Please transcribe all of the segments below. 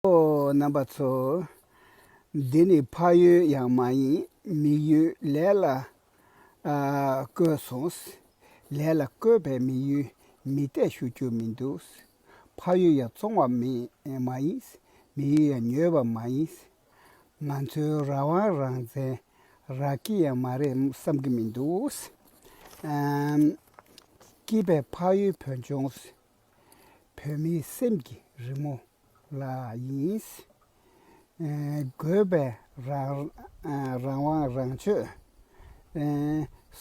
ཨོ་རྣམ་པ་ཚོ། འདི་ནི་ཕ་ཡུལ་ཡང་མ་ཡིན་མི་ཡུལ་ལས་ལ་བསྐོས་སོང། ལས་ལ་བསྐོས་པའི་མི་ཡུལ་མི་གཏད་ཞུ་རྒྱུ་མི་འདུག། ཕ་ཡུལ་ཡང་བཙོང་བ་མི་མ་ཡིན། མི་ཡུལ་ཡང་ཉོས་པ་མ་ཡིན། ང་ཚོའི་ར་དབང་རང་བཙན་རག་གི་ཡང་མ་རེད་བསམ་གི་མི་འདུག། སྐྱིད་པའི་ཕ་ཡུལ་བོད་ལྗོངས། བོད་མིའི་སེམས་ཀྱི་རི་མོ་ལ་ཡིན། དགོས་པའི་རང་དབང་རང་ཆོས་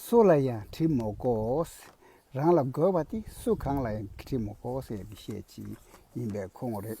སུ་ལ་ཡང་བྲིས་མ་གོས། རང་ལ་དགོས་པ་དེ་སུ་གང་ལ་ཡང་བྲིས་མ་གོས་ཟེར་བཤད་ཀྱི་ཡིན་པའི་ཁུངས་རེད།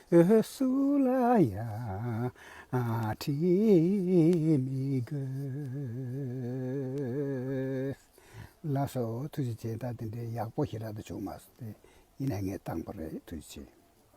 འོད་སུལ་ལ་ཡང་བྲིས་མི་དགོས། ལ་སོགས་ཐུགས་རྗེ་ཆེ་ད་དེ་འདྲའི་ཡག་པོ་ཞིག་རག་ཏུ་བྱུང་མ་སོང་སྟེ་ཡིན་ན་ངས་བཏང་པ་རེད་ཐུགས་རྗེ་ཆེ།